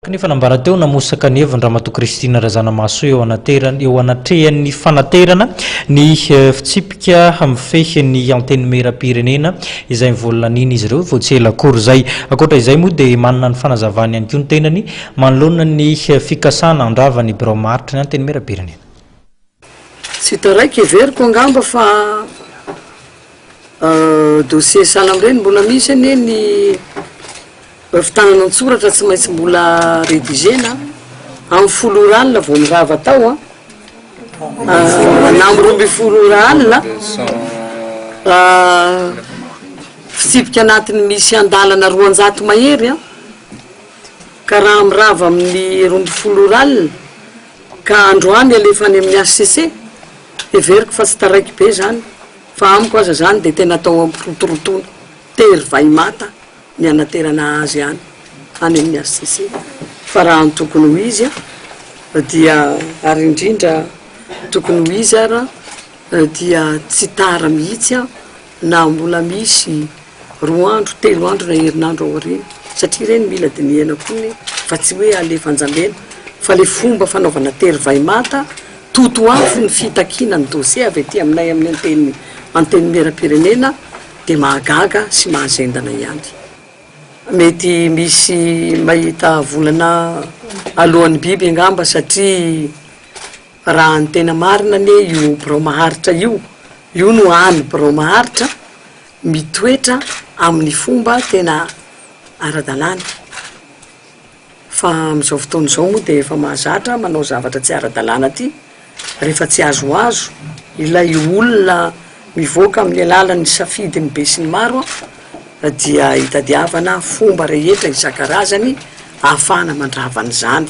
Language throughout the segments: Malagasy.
Kanefa nambara teo namosaka ny heviny Ramatoa Christine Razanamahasoa eo anaterany eo anatrehan'ny fanaterana ny fitsipika mifehy ny Antenimierampirenena izay nivoalanian'izy ireo vao tsy ela akory izay. Ankoatra izay moa dia manana ny fanazavany ihany koa ny tenany manoloana ny fikasana handrava ny birao maharitra ny Antenimierampirenena. Tsy hita raika, heveriko angamba fa dossier sahala amin'ireny mbola misy anie ny fitanana an-tsoratra tsy maintsy mbola rédigena amin'ny folo ora alina vao mirava tao an, na amin'ny roa ambin'ny folo ora alina, fitsipika anatiny misy andalana roanjato mahery an, ka raha mirava amin'ny roa ambin'ny folo ora alina, Ka androany alefa any amin'ny HCC? Heveriko fa tsy taraiky be izany fa amiko aza izany dia tena atao ampirotorotoana tery vay mata ny hanaterana azy any any amin'ny HCC fa raha ny tokony ho izy dia ary indrindra tokony ho izy ary dia tsy tara mihitsy na mbola misy roa andro, telo andro na herinandro aoriana satria ireny mila dinihana koa ny fa tsy hoe alefa anjambena fa le fomba fanaovana tery vay mata totoafo ny fitakiana ny dossier avy aty aminay amin'ny anteny antenimieram-pirenena dia mahagaga sy mahazendana ihany. Mety misy mahita volana alohan'ny biby angamba satria. Raha ny tena marina anie io birao maharitra io, io no hany birao maharitra mitoetra amin'ny fomba tena ara-dalàna. Fa amin'izao fotoana izao moa dia efa mahazatra manao zavatra tsy ara-dalàna aty rehefa tsy azoazo ilay olona mivoaka amin'ny alalan'ny safidin'ny besinimaro dia itadiavana fomba rehetra isan-karazany ahafahana mandrava an'izany.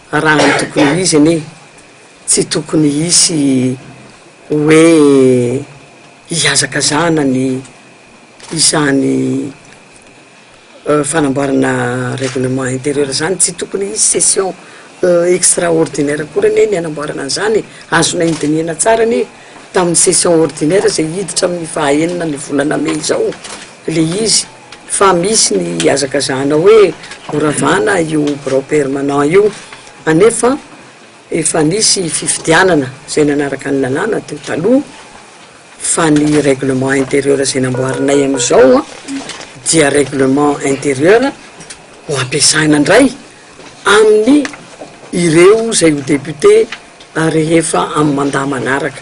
Raha ny tokony ho izy anie tsy tokony hisy hoe hihazakazahana ny izany fanamboarana règlement intérieur izany, tsy tokony hisy session extra ordinaire akory anie ny hanamboarana an'izany e! Azonay nodinihana tsara anie tamin'ny session ordinaire izay hiditra amin'ny faha enina ny volana mey izao ilay izy. Fa misy ny hihazakazahana hoe ho ravana io birao permanent io, anefa efa nisy fifidianana izay nanaraka ny lalàna teo taloha, fa ny règlement intérieur izay namboarinay amin'izao dia règlement intérieur ho ampiasaina indray amin'ny ireo izay ho député rehefa amin'ny mandat manaraka.